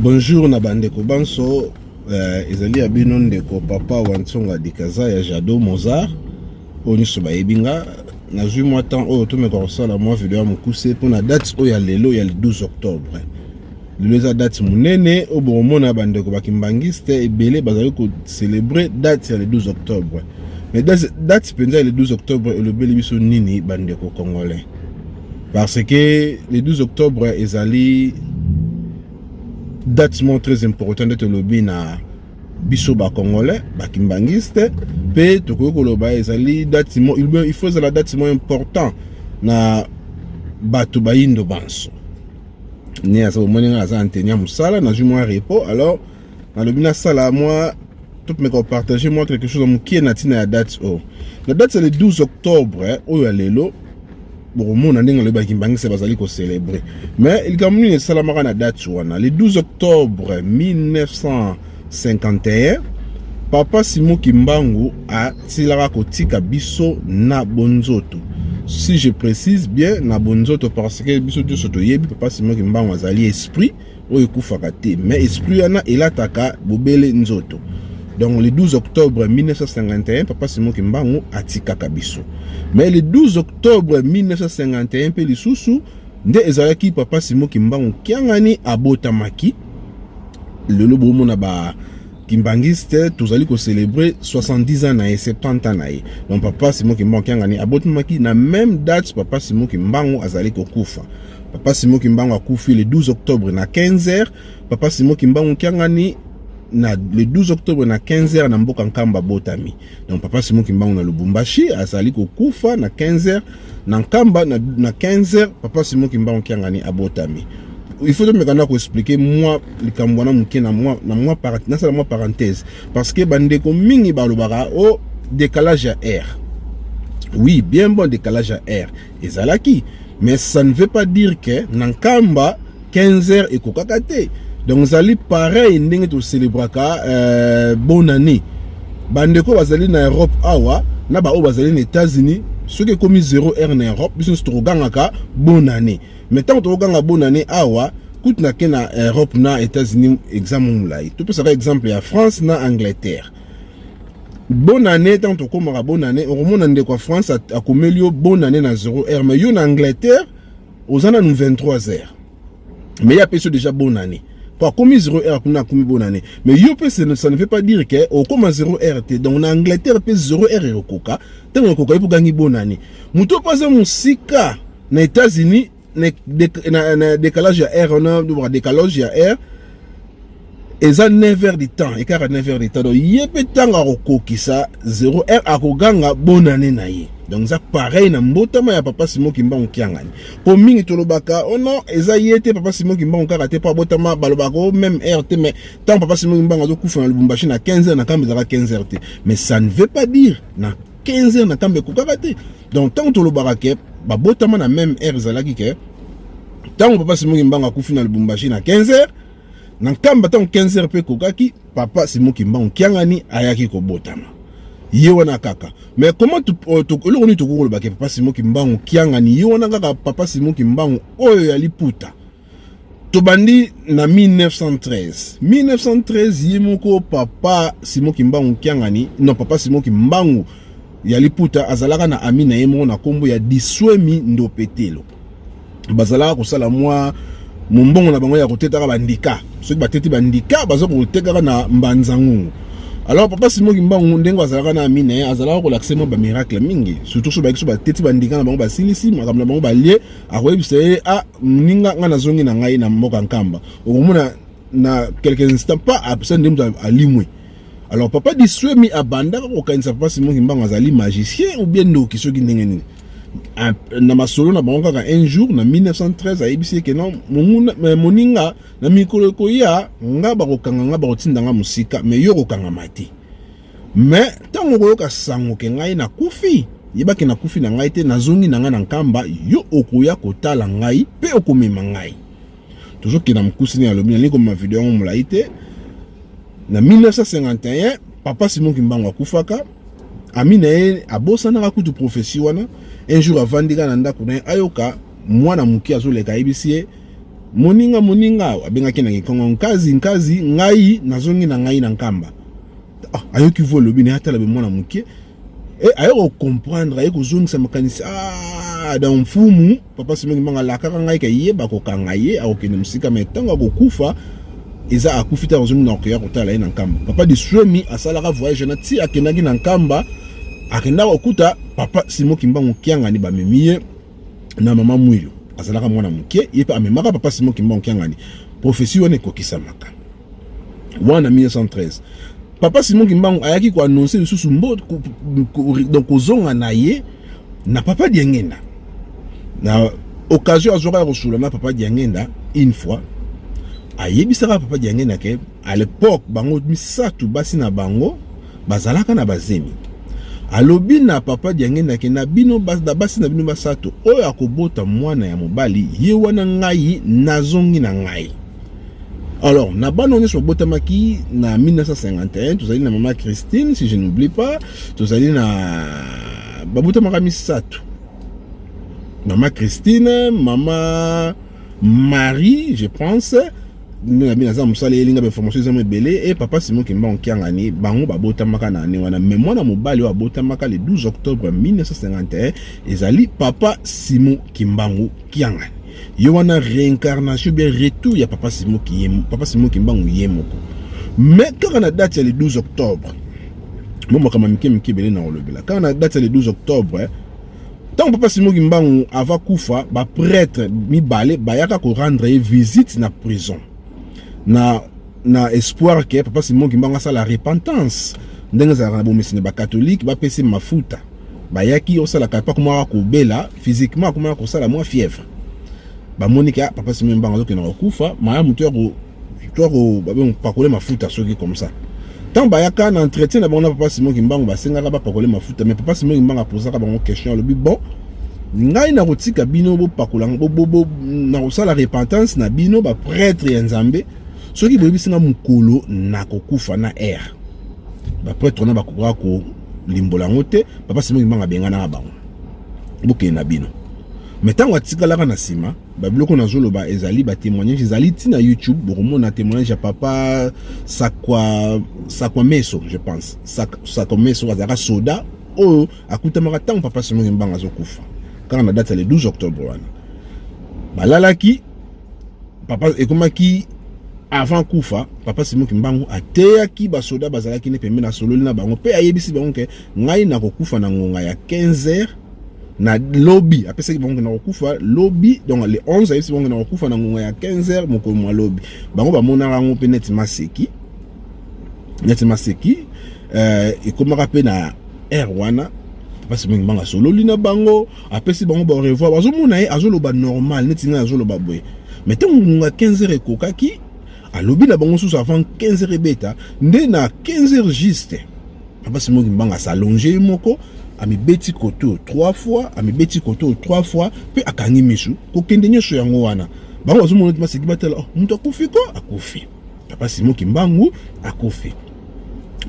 bonjour na bandeko banso eh, ezali ya bino ndeko papa wa ntsonga dikaza ya jado mozart oyo nyonso bayebi nga nazwi mwa temps oyo tomeka kosala mwa video ya mokuse mpo na date oyo ya lelo ya 12 octobre lelo eza date monene oyo bokomona bandeko bakimbangiste ebele bazali kocelebre date ya le 12 octobre mais date mpenza ya le 12 octobre elobeli biso nini bandeko congolais parce que le 12 octobre ezali date moko très important nde tolobi na biso ba congolais ba kimbanguiste pe tokoki koloba ezali date mo il faut ezala date mo important na bato bayindo banso ni aza omoni ngai aza anteni ya mosala nazwi mwa repos alors nalobi nasala mwa topemeka kopartage mwa quelque chose ya mokie na ntina ya date oyo na date ya le 12 octobre oyo ya lelo bokomona ndenge alobi bakimbangisa bazali kocelebre mais likambo nini esalamaka na date wana le 12 octobre 1951 papa simo kimbangu asilaka kotika biso na bonzoto si je précise bien na bonzoto parce que biso nyonso toyebi papa simo kimbangu azali esprit oyo ekufaka te mais esprit wana elataka bobele nzoto donc le 12 octobre 1951 papa simon kimbangu atikaka biso mais le 12 octobre 1951 mpe lisusu nde ezalaki papa simon kimbangu kiangani abotamaki lelo bomona ba kimbanguiste tozali kocelebre 70 ans na ye 70 ans na ye donc papa simon kimbangu kiangani abotamaki na même date papa simon kimbangu azali kokufa Papa Simon Kimbangu akufi le 12 octobre na 15h. Papa Simon Kimbangu Kiangani na le 12 octobre na 15h na mboka Nkamba botami. Donc Papa Simon Kimbangu na Lubumbashi azali kokufa na 15h na Nkamba na, na 15h Papa Simon Kimbangu Kiangani abotami. Il faut tomeka na koexplike mwa likambo wana moke na mwa na mwa nasala mwa parenthèse parce que bandeko mingi balobaka o oh, décalage ya air oui bien bon décalage ya air ezalaki mais ça ne veut pas dire que na nkamba 15 heures ekokaka te donc ezali pareil ndenge tocelebraka euh, bonne année bandeko bazali na europe awa na baoyo bazali na états-unis soki ekomi 0 heure na europe biso nyonso tokogangaka bonne année mais ntango tokoganga bonne année awa kutu nake na europe na états-unis examen molai topesaka exemple ya france na angleterre bonne année ntango tokomaka bonne année okomona ndeko ya france akomeli yo bonne année na 0 heure mais yo na angleterre oza nanu 23 heures mais ye apesi yo déjà bonne année po akomi 0 heure kuna akomi bonne année mais yo mpe ça ne veut pas dire ke okoma 0 heure te donc na angleterre mpe 0 heure ekokoka ntango ekoka yo mpe ogangi bonne année moto mpe aza mosika na états-unis na décalage ya heure wana ba décalage ya heure eza 9 heures du temps ekaka 9 heures du temps donc ye mpe ntango akokokisa 0 heure akoganga bonane na ye donc eza pareil na mbotama ya papa Simon Kimbangu Kiangani po mingi tolobaka oh non eza ye te papa Simon Kimbangu kaka te po abotama balobaka oh même heure te mais tant papa Simon Kimbangu azokufa na Lubumbashi na 15 heures na kamba ezalaka 15 heures te mais ça ne veut pas dire na 15 ans na kamba ekokaka te donc ntango tolobaka ke babotama na meme heure ezalaki ke ntango papa simoki mbango akufi na lubumbashi na 15 heures na nkamba ntango 15 heures mpe ekokaki papa simoki mbango kiangani ayaki kobotama ye wana kaka mais comment euh, eloko nini tokoki kolobake papa simoki mbango kiangani ye wana kaka papa simoki mbango oyo ya liputa tobandi na 1913 1913 ye moko papa simo kimbangu kiangani non papa simo kimbangu ya liputa azalaka na ami na ye moko na nkombo ya diswemi ndopetelo bazalaka kosala mwa mombongo na bango ya kotetaka bandika soki bateti bandika baza kotekaka na mbanzangungu alors papa simo kimbangu ndenge azalaka na ami na ye azalaka kolakisa mwa bamiracle mingi surtout so bayaki so bateti bandika na bango basilisi makambo na bango balie akoyebisa ye a ah, moninga ngai nazongi na ngai na mboka nkamba okomona na quelques instants pas apesa nde moto alimwe alors papa diswemi abandaka kokanisa papa simon kimbangu azali magicien ou bien ndoki soki ndenge nini ah, na masolo na bango kaka un jour na 1913 ayebisi eke na eh, moninga na mikolo ekoya nga bakokanga nga bakotinda nga mosika mais yo okokangama te Mais ntango okoyoka sango ke ngai nakufi, yeba ke nakufi na ngai te, nazongi na ngai na Nkamba, yo okoya kotala ngai mpe okomema ngai. Tozokenda mokuse nini alobi, nalingi komema video yango molai te. Na 1951 papa Simon Kimbangu akufaka, ami na ye abosanaka kutu profesi wana. Un jour avandika na ndako na ye ayoka mwana moke azoleka, ayebisi ye moninga, moninga, abengaki na Kikongo, nkazi, nkazi, ngai nazongi na ngai na Nkamba. ah, ayoki vo alobi naye atala bemwana moke eh, aye kocomprendre aye kozongisa makanisi ah, da mfumu papa simongi mbanga alakaka ngai kayeba kokanga ye akokende mosika mai ntango akokufa eza akufi te akozongi na kokeya kotala ye na nkamba papa de suemi asalaka voyage na ti akendaki na nkamba akendaka kokuta papa simo kimbangu kiangani bamemi ye na mama mwilo azalaka mwana moke ye mpe amemaka papa simo kimbangu kiangani profesi wana ekokisamaka wana 1913 papa Simon Kimbangu ayaki ko annoncer lisusu mbo donc kozonga na ye na papa Diengenda na occasion azwaka ya kosula na papa Diengenda une fois ayebisaka papa Diengenda ke à l'époque bango misato basi na bango bazalaka na bazemi alobi na papa Diangenda ke na bino na basi na bino basato oyo akobota mwana ya mobali ye wana ngai nazongi na ngai Alors, na bana nyonso babotamaki na 1951, tozali na mama Christine, si je n'oublie pas, tozali na babotamaka misato. Mama Christine, mama Marie, je pense, nde na bino aza mosala elinga bainformation eza mo ebele e papa simon kimbango kiangani bango babotamaka na ane wana mai mwana mobali oyo abotamaka le 12 octobre 1951 ezali papa simon kimbangu kiangani ye wana reincarnation bien retour ya papa simo kiyemo papa simo kimbangu ye moko mais kaka na date ya le 12 octobre mo makambo mike mike ebele na kolobela kaka na date ya le 12 octobre eh, ntango papa simo kimbangu ava kufa baprêtre mibale bayaka korendre ye visite na prison na na espoir ke papa simo kimbangu asala repentance ndenge ezalaka na bomesene bakatolike bapesi mafuta bayaki osala kapa akomaka kobela physiquement akomaka kosala mwa fièvre bamoniki ah, papa simi mbanga azokende kokufa malamu topakole mafuta soki comme ça ntango bayaka na entretien na bango na papa simo kimbangu basengaka bapakole mafuta mais papa simo kimbangu apozaka bango question alobi bon ngai nakotika bino bopakola nakosala repentance na bino bapretre ya nzambe soki boyebisi nga mokolo nakokufa na aire ba prêtre na bakoka ko limbola yango te papa Simon Kimbangu abenganaka bango bokende na bino me ntango atikalaka na nsima babiloko nazoloba ezali batémoignage ezali ti na youtube bokomona témoignage ya papa sakwa sakwa meso je pense sakwa meso azalaka soda oyo akutamaka ntango papa Simon Kimbangu azokufa kaka na date ya le 12 octobre wana balalaki papa ekomaki avant kufa papa Simon Kimbangu ateyaki basoda bazalaki ne pembeni asololi na bango mpe ayebisi bango ke ngai nakokufa na ngonga ya 15 heures na lobi apesaki bango ke nakokufa lobi donc le 11 ayebisi bango ke nakokufa na ngonga ya 15 heures mokolo mwa lobi bango bamonaka yango mpe neti maseki neti maseki euh, ekomaka mpe na heure wana papa Simon Kimbangu asololi na bango apesi bango ba revoir bazomona ye azoloba normal neti ngai azoloba boye mais ntango ngonga 15 heures ekokaki alobi na bango susu avant 15 heures ebeta nde na 15 heures juste papa simoki mbanga asalonge ye moko amibeti koto 3 fois amibeti koto 3 fois mpe akangi misu kokende nyonso yango wana bango bazomona ete baseki batala oh, moto akufi ko akufi Papa Simon Kimbangu akufi.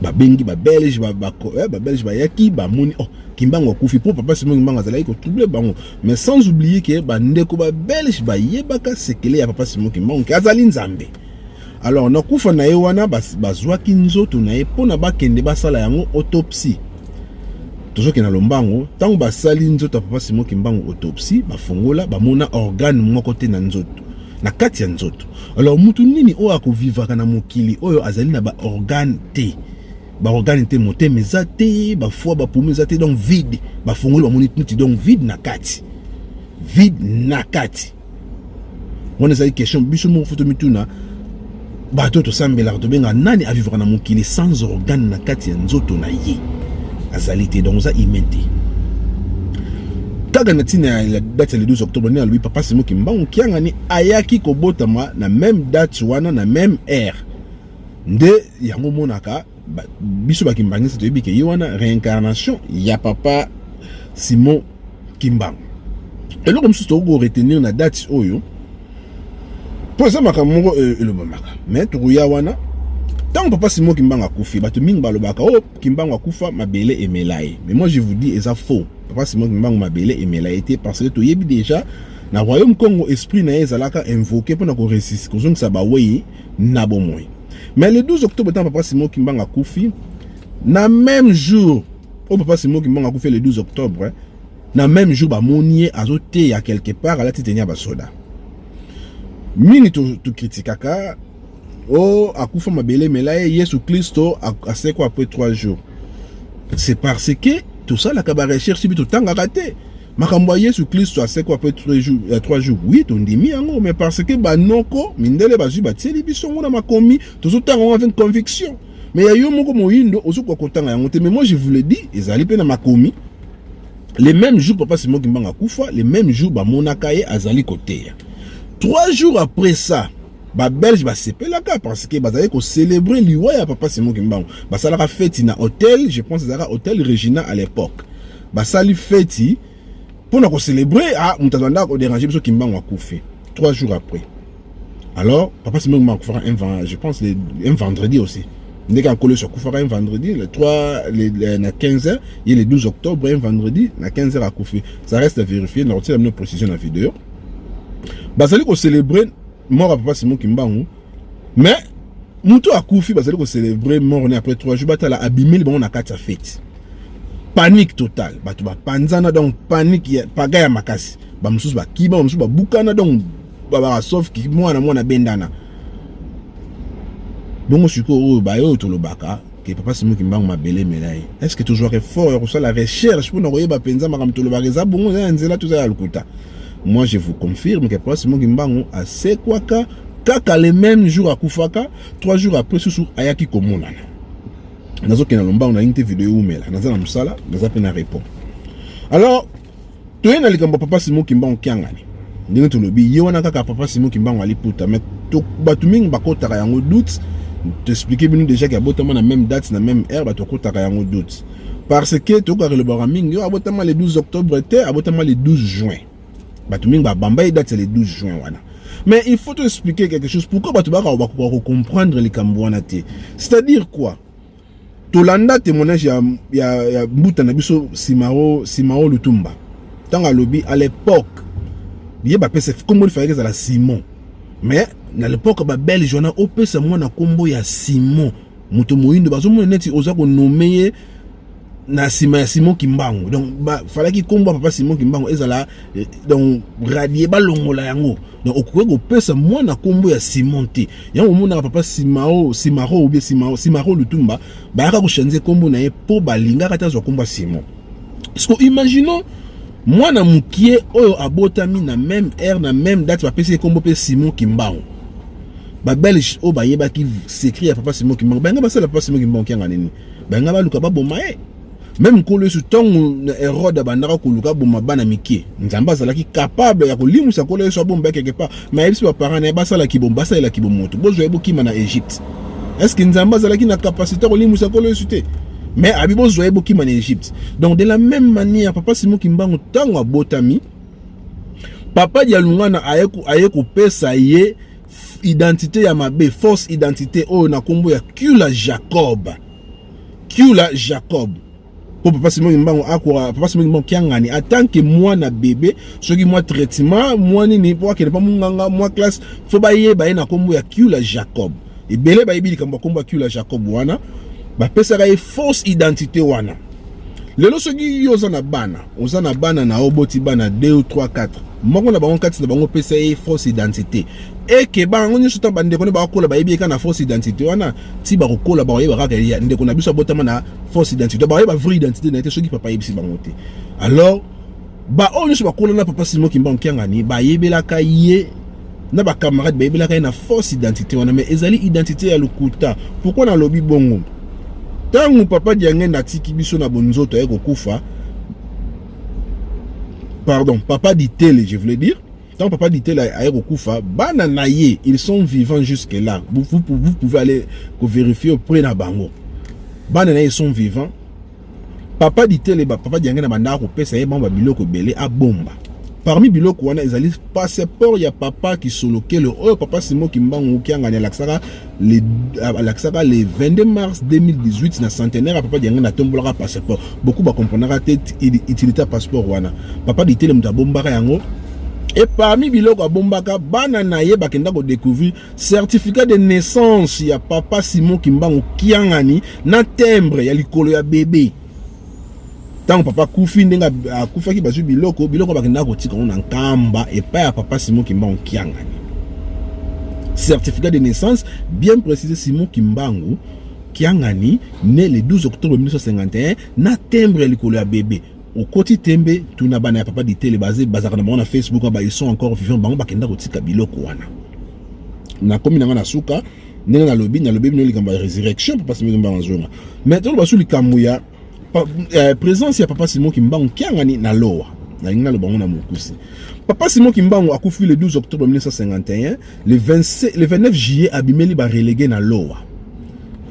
Babengi ba Belge ba ba, eh, ba Belge bayaki bamoni oh Kimbangu akufi mpo papa Simon Kimbangu azalaki kotrouble bango mais sans oublier ke bandeko ba Belge bayebaka sekele ya papa Simon Kimbangu ke azali nzambe alors na kufa na ye wana bazwaki nzoto na ye mpo na bakende basala yango autopsie tozokende na lombango ntango basali nzoto ya papa Simon Kimbangu autopsie bafongola bamona organe moko te na nzoto na kati ya nzoto. Alors mutu nini oyo akovivaka na mokili oyo azali na ba organe te ba organe te, motema eza te, ba foie ba poumon eza te, donc vide. Ba fongoli ba moni tuti, donc vide na kati, vide na kati. Wana ezali question biso moko foto mituna bato tosambelaka tobenga nani avivaka na mokili sans organe na kati ya nzoto na ye azali te donc oza humain te kaka na ntina ya date ya le 12 octobre nde alobi papa simo kimbangu kiangani ayaki kobotama na meme date wana na meme heure nde yango omonaka ba, biso bakimbangisi toyebi ke ye wana reincarnation ya papa simon kimbangu eloko mosusu tokoki koretenir na date oyo mpo eza makambo moko euh, elobamaka me tokoya wana ntango papa simon kimbangu akufi bato mingi balobaka o oh, kimbangu akufa mabele emela ye mais moi je vous dis eza faux papa simon kimbangu mabele emela ye te parce que toyebi déjà na royaume congo esprit na ye ezalaka invoke mpona koresisi kozongisa bawei na bomoi. Mais le 12 octobre ntango papa Simon Kimbangu akufi, na même jour oyo papa Simon Kimbangu akufi le 12 octobre, eh, na même jour bamoni ye azoteya quelque part alati teni ya basoda mingi tokritikaka to oh akufa mabele mela ye yesu klisto asekwa après 3 jours c'est parce que tosalaka barecherche bi totangaka te makambo ya yesu klisto asekwa mpe ya 3 jours wi tondimi yango mais parce que banoko mindele bazwi batieli biso yango na makomi tozotanga yango avec conviction mais ya yo moko moyindo ozokoka kotanga yango te mais moi je vous le dis ezali mpe na makomi le même jour papa simon kimbanga akufa le même jour bamonaka ye azali koteya 3 jours après ça babelge basepelaka parce que bazali kocelebre liwa ya papa simon kimbangu basalaka feti na hotel je pense ezalaka hotel regina à l'époque basali feti mpo na kocelebre ah, moto azalanda koderange biso kimbangu akufi trois jours après alors papa simengo akufaka un je pense un vendredi aussi ndeke ankolo yesu akufaka un vendredi le 3 le, le, na 15 heures ye le 12 octobre un vendredi na 15 heures akufi ça reste à vérifier nakotiela bino précision na video bazali kocelebre mort ya papa simon kimbangu mais mutu akufi bazali ko celebrer mort ne après 3 jours batala abimeli bango na kati ya fete panique totale bato bapanzana donc panique ya paga ya makasi bamosusu bakiba bamosusu babukana donc babaka sauf ki mwana mwana bendana bongo sikoyo oyo baye oyo tolobaka ke papa Simon Kimbangu mabele emela ye est ce que tozwaka effort ya kosala recherche mpo na koyeba mpenza makambo tolobaka eza bongo eza ya nzela toza ya lokuta moi je vous confirme ke papa Simon Kimbangu asekwaka kaka le même jour akufaka trois jours après susu ayaki komonana nazokenda lombango nalingi te video eumela naza na mosala naza mpe na repos alors toye na likambo papa Simon Kimbangu Kiangani ndenge tolobi ye wana kaka papa Simon Kimbangu aliputa mais bato mingi bakotaka yango doute toexplike bino déjà ke abotama na même date na même heure bato bakotaka yango doute parce que tokokaka elobaka mingi yo abotama le 12 octobre te abotama le 12 juin bato mingi babamba ye date ya le 12 juin wana mais il faut toexplike quelque chose pourquoi bato bakaka bakoka kocomprendre likambo wana te c'est-à-dire quoi tolanda témoignage ya, ya, ya mbuta na biso simao simao lutumba ntango alobi à l'époque ye bapesa nkombo lifalaki ezala simon mais na l'époque babelge wana opesa mwana nkombo ya simon moto moyindo bazomona neti oza konome ye na nsima ya simon kimbangu donc falaki nkombo ya papa simon kimbangu ezala Eh, donc radie balongola yango donc okoki kopesa mwana nkombo ya simon te yango omonaka papa simao simaro obie simao simaro lutumba bayaka kochanze nkombo na ye mpo balingaka te azwa nkombo ya simon siko imaginons mwana mokie oyo abotami na meme heure na meme date bapesi ye nkombo mpe simon kimbangu babelge oyo bayebaki secret ya papa simon kimbangu balinga basala papa simon kimbangu kianga nini balinga baluka baboma ye meme nkolo yesu ntango na herode abandaka koluka aboma bana mike nzambe azalaki capable ya kolimwisa nkolo yesu abomba ye quelque part me ayebisi baparent na ye basala kibomo basalela kibomo moto bozwa ye bokima na egypte estce nzambe azalaki na capacité ya kolimwisa nkolo yesu te me abi bozwa ye bokima na egypte donc de la même manière papa simo kimbangu ntango abotami papa dialungana aye kopesa ye identité ya mabe fausse identité oyo na nkombo ya cula jacob Kiula Jacob po papa Simon Kimbangu akwa papa Simon Kimbangu kiangani en tant que mwana bebe soki mwa traitement mwa nini po akende pa munganga mwa classe fo bayeba ye na kombo ya Kiula Jacob ebele bayebi likambo ya kombo ya Kiula Jacob wana bapesaka ye fausse identité wana lelo soki yo oza na bana oza na bana na oboti bana 2 ou 3 4 moko na bango kati na bango opesa ye fausse identité ekeba yango nyonso ntango bandeko ne bakola bayebi ye kaka na fausse identité wana ti bakokola bakoyeba kaka ya ndeko na biso abotama na fausse identité bakoyeba vraie identité na ye te soki papa ayebisi bango te alors baoyo nyonso bakola na papa simo kimbangu kiangani bayebelaka ye na bacamarade bayebelaka ye na fausse identité wana mais ezali identité ya lokuta pourkui nalobi bongo ntango papa diangenda atiki biso na bonzoto aye kokufa pardon papa ditele je voulais dire Tant papa Ditela aye kokufa, bana na ye, ils sont vivants jusque là. Vous, vous, vous pouvez aller ko vérifier auprès na bango. Bana na ye sont vivants. Papa Ditela ba papa Diange na banda ko pesa ye bango ba biloko belé a bomba. Parmi biloko wana ezali passeport ya papa Kisolokelo oyo papa Simo Kimbangu Kiangani alaksaka le alakisaka le 22 mars 2018 na centenaire ya papa diange na tombolaka passeport beaucoup bakomprenaka te utilité ya passeport wana papa ditele moto abombaka yango e parmi biloko abombaka bana na ye bakenda kodécouvrir certificat de naissance ya papa simon kimbangu kiangani na timbre ya likolo ya bebe ntango papa akufi ndenge akufaki bazwi biloko biloko bakendaka kotika yango na nkamba epai ya papa simon kimbangu kiangani certificat de naissance bien précisé simon kimbangu kiangani né le 12 octobre 1951 na timbre ya likolo ya bebe okoti tembe tuna bana ya papa ditele bazalaka na bango na facebook ils sont encore vivant bango bakenda kotika biloko wana nakomi na nga na suka ndenge nalobi nalobi bino likambo ya résurrection papa simoki mbango azonga mais toloba su likambo ya eh, présence ya papa simoki mbango kiangani na lowa nalingi naloba yango na mokuse papa simon kimbangu akufi le 12 octobre 1951 le, 26, le 29 juillet abimeli barelege na lowa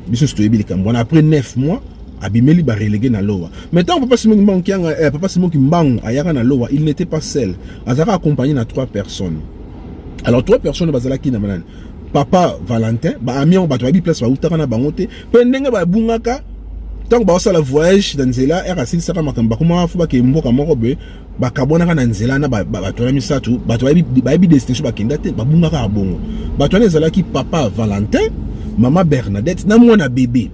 biso toyebi likambo wana après 9 mois abimeli barelege na lowa mais ntango papa simon kimbangu kianga eh, papa simon kimbangu ayaka na lowa il n'était pas seul azalaka accompagné na trois personnes alors trois personnes bazalaki na banani papa valentin baami yango bato bayebi place bautaka na bango te mpe ndenge babungaka ntango baosala voyage na nzela ere asilisaka makambo bakomaka fo bakei mboka moko boye bakabwanaka na nzela na bato wana misato bato bayebi destination bakenda te babungaka ya bongo bato wana ezalaki papa valentin mama bernadette na mwana bebe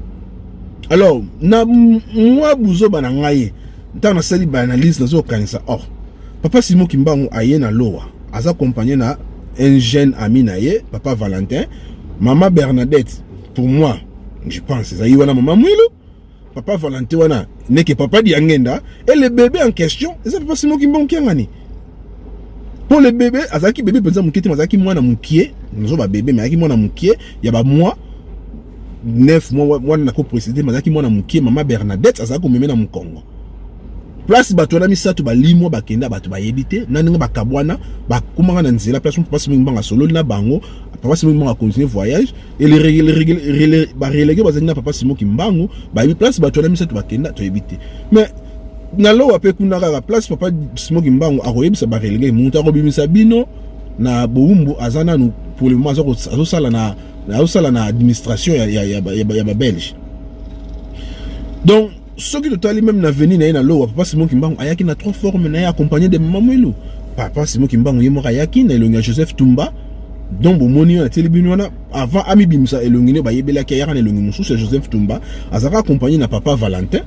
alors na mwa buzoba na ngai Ntango nasali ba analyse nazo kanisa oh papa Simon Kimbangu aye na lowa aza accompagné na un jeune ami na ye papa Valentin mama Bernadette pour moi je pense ezali wana mama Mwilu papa Valentin wana neke papa Diangenda et le bébé en question eza papa Simon Kimbangu Kiangani mpo le bebe azalaki bebe mpenza moke te azalaki mwana mokie nazo babebe me azalaki mwana mokie ya bamwa 9 mois wana nako précéder mazaki mwana mukie mama Bernadette azali komeme na mukongo place bato wana misato balimwa bakenda bato bayebi te na ndenge bakabwana bakomaka na nzela place moko pasi mingi mbanga sololi na bango papa simo mbanga continue voyage et les règles ba relégué bazali na papa simo kimbangu bayebi place bato wana misato bakenda toyebi te mais na lowa pe kuna kaka place papa simo kimbangu akoyebisa ba relégué moto akobimisa bino na bowumbu aza nanu pour le moment azosala na azosala na administration ya, ya, ya, ya, ya babelge donc soki totali meme na veni na ye na lowa papa simon kimbangu ayaki na trois forme na ye accompagné de mama mwilu papa simon kimbangu ye moko ayaki na elongi ya joseph tumba donc bomoni oyo natieli bino wana avant amibimisa elongi nde bayebelaki ayaka na elongi mosusu ya joseph tumba azalaka accompagné na papa valentin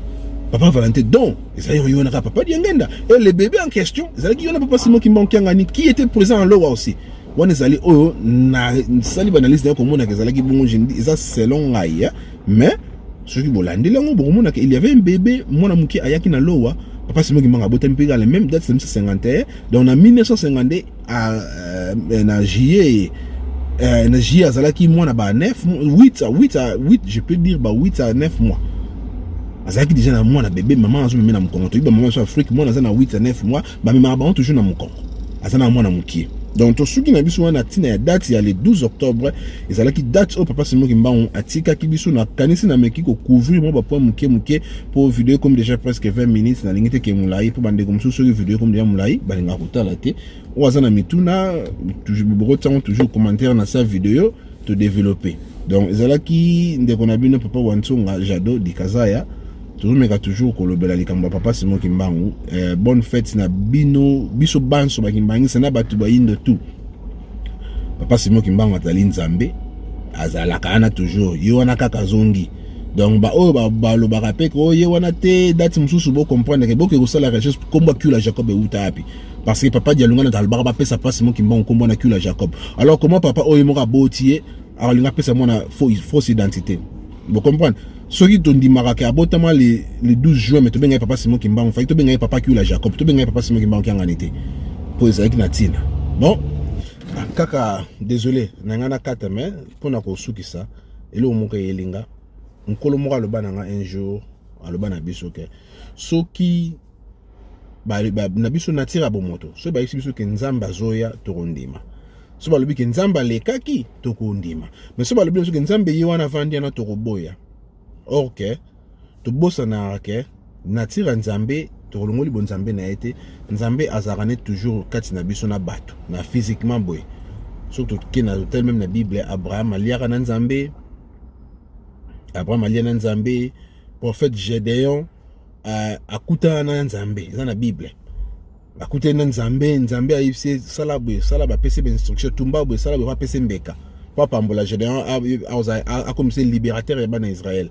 papa valentin donc ezalaki koyonaka papa diangenda et le bébé en question ezalaki yona papa simon kimbangu kiangani qui était présent en lowa aussi wana ezali oyo nasali baanalyse nayo komonaka ezalaki bongo jendi eza selon ngai eh. mais soki bolandeli yango bokomonaka il y avait un bébé mwana moke ayaki na lowa papa simoki mbanga abotami mpe kala même date 1951 donc na 1952 euh, na juillet euh, na juillet azalaki mwana ba 9 8 à 8 à 8 je peux dire ba 8 à 9 mois azalaki deja na mwana bebe mama azomeme na mokongo toyebi bamama so afrique mwana aza na 8 à 9 mois bamemaka bango toujours na mokongo aza na mwana mokie donc tosuki na biso wana ntina ya date ya le 12 octobre ezalaki date oyo papa simo kimbangu atikaki biso nakanisi nameki kocouvrir mwa bapoint moke moke mpo video ekomi déjà presque 20 minutes nalingi te ke molai mpo bandeko mosusu soki video ekomi deja molai balingaka kotala te oyo aza na mituna bokotiango toujours commentaire na sa video todeveloppe donc ezalaki ndeko na bino papa wansonga jado dikazaya tozomeka toujours kolobela likambo ya papa simo kimbangu eh, bonne fete na bino biso banso bakimbangisa na bato bayindo tu papa simo kimbangu azali nzambe azalaka wana toujours ye wana kaka azongi donc baoyo balobaka ba mpe ko ye wana te dati mosusu bocomprendre ke boke kosala quelque chose nkombo akula jacob euta api parce que papa dialungana alobaka bapesa papa simo kimbangu nkombo wana akula jacob alors comment papa oyo moko aboti ye akolinga apesa mwana fausse identité Vous comprenez soki tondimaka ke abotama le, le 12 juin me tobengai papa simon kimbangu fai tobengai papa kiula jacob tobengai papa simon kimbangu kiangani te mpo ezalaki na ntina bon ah, kaka désolé na ngai nakata me mpo na kosukisa eloko moko eyelinga nkolo moko aloba na ngai un jour aloba na biso ke soki ba, ba, na biso natira bomoto soki bayebisi biso ke nzambe azoya tokondima so balobi ke nzambe alekaki tokondima mais so balobi biso ke nzambe ye wana avandi yana tokoboya or ke tobosanaka ke natira nzambe tokolongoli bonzambe na ye te nzambe azalaka ne toujours kati na biso na bato na physiquement boye soki toke na totel meme na bible abraham aliaka na nzambe abraham alia na nzambe prophète gedeon akutana na nzambe eza na bible akutani na nzambe nzambe ayebisi ye sala boye sala bapesi be instruction tumba boye sala boye bapesi mbeka mpo apambola gédéon akomisa ye libérateur ya bana israele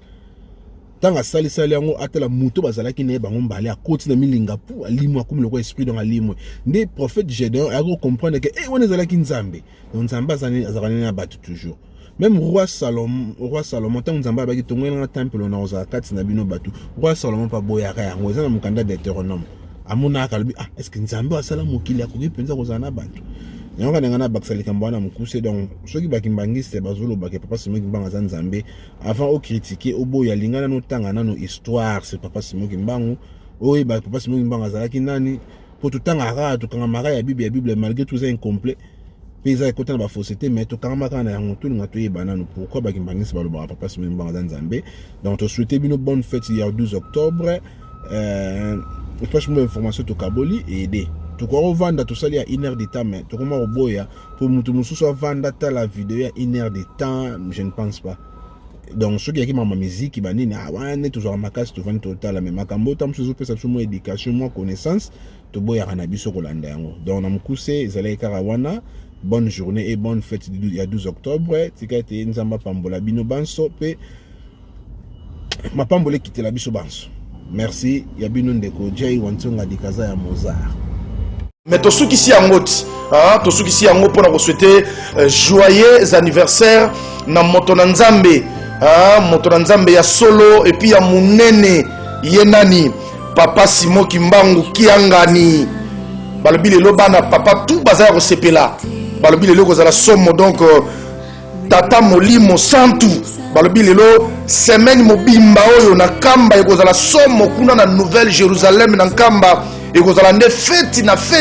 ntango asalisali yango atala moto bazalaki na ye bango mbale akoti na milinga pu alimwe akomi lokola esprit donc alimwe nde prophète gédéon ayaki kocomprendre ke e eh, wana ezalaki nzambe donc nzambe azalani na bato toujours meme roi salomon roi salomon ntango nzambe abaki tongwela nga tempelo na kozala kati na bino bato roi salomon mpe aboyaka yango eza na mokanda deuteronome amonaka alobi ah estce nzambe oyo asala mokili akoki mpenza kozala na bato yango kana ngai nabakisa likambo wana mokuse donc soki bakimbangiste bazolobaka papa simo kimbangu aza nzambe avant okritike oboya linga nano otanga nano histoire se papa simo kimbangu oyeba papa simo kimbangu azalaki nani mpo totangaka tokangamaka ya bible ya bible malgré tout eza incomplet mpe eza ekota na bafose te mai tokangama kaka na yango tolinga toyeba nano pourkui bakimbangisi balobaka papa simoni mbanga aza nzambe donc tosouhaite bino bonne fete ya 12 octobre euh, franchement bainformation tokaboli ede tokoki kovanda tosali ya une heure de temps mais tokoma koboya mpo moto mosusu avanda tala video ya une heure de temps je ne pense pas donc soki yaki mama miziki banini ah, wana nde tozwaka makasi tovandi totala me makambo oyo ta mosusu ezopesa biso mwa éducation mwa connaissance toboyaka na biso kolanda yango donc na mokuse ezalaki kaka wana bonne journée et bonne fête ya 12 octobre tika ete nzambe apambola bino banso mpe mapamboli ekitela biso banso merci ya bino ndeko jay wantsonga dikaza ya mozart mais tosukisi yango ti ah, tosukisi yango mpo na koswete euh, joyeux anniversaire na moto na nzambe ah, moto na nzambe ya solo epuis ya monene ye nani papa simo kimbangu kiangani balobi lelo bana papa tu baza ya kosepela balobi lelo ekozala somo donc euh, tata molimo santu balobi lelo semaine mobimba oyo na nkamba ekozala somo kuna na nouvelle jérusalem na nkamba ekozala nde feti na feti